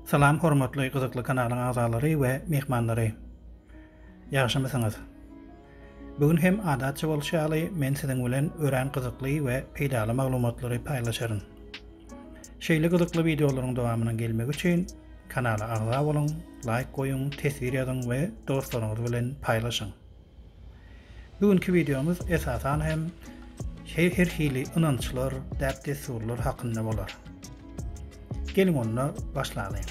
Salam hormatly gyzykly kanalyň agzalary we myhmanlary. Ýagşymysyňyz? Bu gün hem adatça bolşy ýaly men siziň bilen örän gyzykly we peýdaly maglumatlary paýlaşaryn. Şeýle gyzykly wideolaryň dowamynyň gelmegi üçin kanala agza boluň, laýk goýuň, teswir ýazyň we dostlaryňyz bilen paýlaşyň. Bu günki wideomyz esasan hem şeý her hili ynançlar, däp-dessurlar hakynda bolar. Geliň onda başlalyň.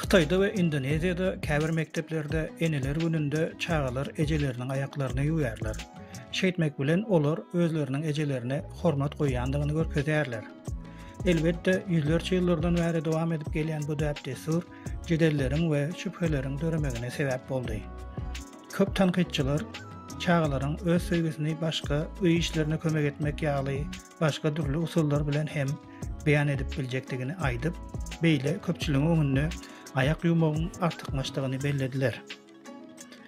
Hytaýda we Indoneziýada käbir mekdeplerde Eneler gününde çagalar ejeleriniň aýaklaryny ýuwýarlar. Şeýtmek bilen, olar özleriniň ejelerine hormat goýýandygyny görkezýärler. Elbetde, ýüzlerçe ýyllardan bäri dowam edip gelýän bu däp-dessur jedelleriň we şübheleriň döremegine sebäp boldy. Köp tankytçylar çagalaryň öz söýgüsini başga, öý işlerine kömek etmek ýaly başga dürli usullar bilen hem beýan edip biljekdigini aýdyp, beýle köpçüligiň öňünde aýak ýuwmagyň artykmaçdygyny bellediler.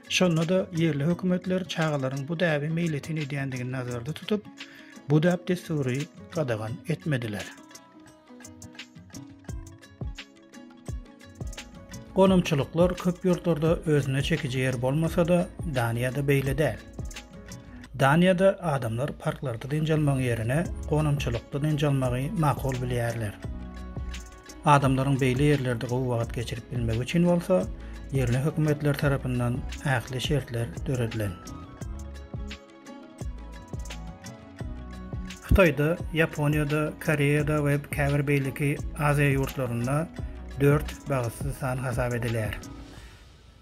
Şonda-da ýerli hökümetler çagalaryň bu däbi meýletin edýändigini nazarda tutup, bu däp-dessury gadagan etmediler. Gonamçylyklar köp ýurtlarda özüne çekiji ýer bolmasa-da, Daniýada beýle däl. Daniýada adamlar parklarda dynç almagyň ýerine gonamçylykda dynç almagy makul bilýärler. Adamlaryň beýle ýerlerde gowy wagt geçirip bilmegi üçin bolsa, ýerli hökümetler tarapyndan ähli şertler döredilen. Hytaýda, Ýaponiýada, Koreýada we käbir beýleki Aziýa ýurtlarynda dört bagtsyz san hasap edilýär.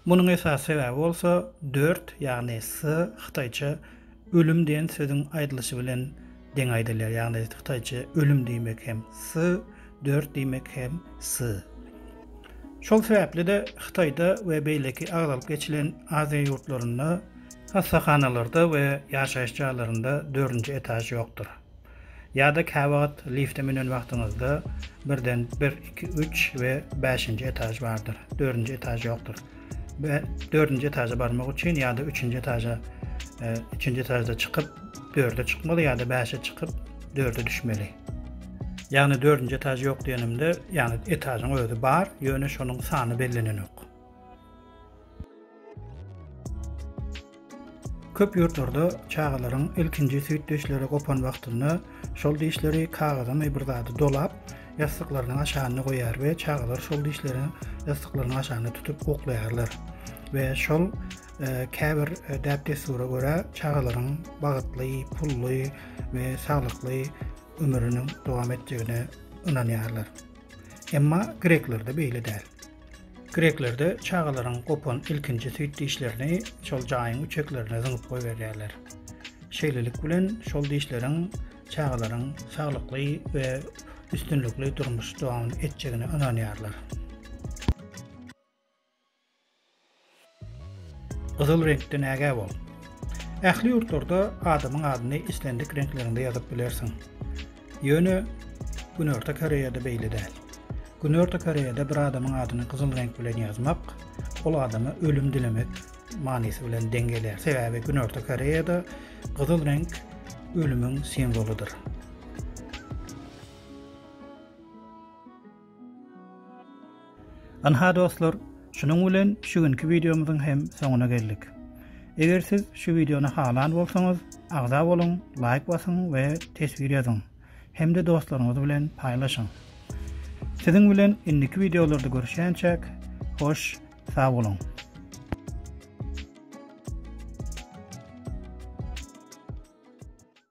Munuň esasy sebäbi bolsa dört, ýagny s, hytaýça ölüm diýen sözüň aýdylyşy bilen Deň aýdylýar, ýagny hytaýça ölüm diýmek hem sy, dört diýmek hem sy. Şol sebäpli-de Hytaýda we beýleki agzalyp geçilen Aziýa ýurtlarynda hassahanalarda we ýaşaýyş jaýlarynda dördünji etaž ýokdur. Ýa-da käwagt lifte münen wagtyňyzda birden bir, iki, üç we bäşinji etaž bardyr, dördünji etaž ýokdur. we dördünji etaja barmak üçin ýa-da üçünji etaja e, üçünji etajda çykyp dörde çykmaly ýa-da bäşe çykyp dörde düşmeli ýagny dördünji etaj ýok diýenimde ýagny etajyň özi bar ýöne şonuň sany bellenenok Köp ýurtlarda çagalaryň ilkinji süýt dişleri gopan wagtynda şol dişleri kagyzamy bir zady dolap, ýassyklarynyň aşagynda goýar we çagalar şol dişleri ýassyklarynyň aşagynda tutup uklaýarlar we şol käbir däp-dessura görä çagalaryň bagytly, pully we saglykly ömrüniň dowam etjegine ynanýarlar. Emma greklerde beýle däl. Greklerde çagalaryň gopan ilkinji süýt dişlerini şol jaýyň üçeklerine zyňyp goýberýärler. Şeýlelik bilen şol dişleriň çagalaryň saglykly we üstünlikli durmuş dowam etjegine ynanýarlar. Gyzyl reňkden ägä bol! Ähli ýurtlarda adamyň adyny islendik reňklerinde ýazyp bilersiň. Ýöne Günorta Koreýada beýle däl. Günorta Koreýada bir adamyň adyny gyzyl reňk bilen ýazmak ol adama ölüm dilemek manysy bilen deň gelýär. Sebäbi Günorta Koreýada gyzyl reňk ölümiň simwolydyr. Ynha dostlar, şunuň bilen şu günki wideomyzyň hem soňuna geldik. Eger siz şu wideony halan bolsaňyz, agza boluň, laýk basyň we teswir ýazyň hem-de dostlaryňyz bilen paýlaşyň. Siziň bilen indiki wideolarda görüşýänçäk, hoş, sag boluň!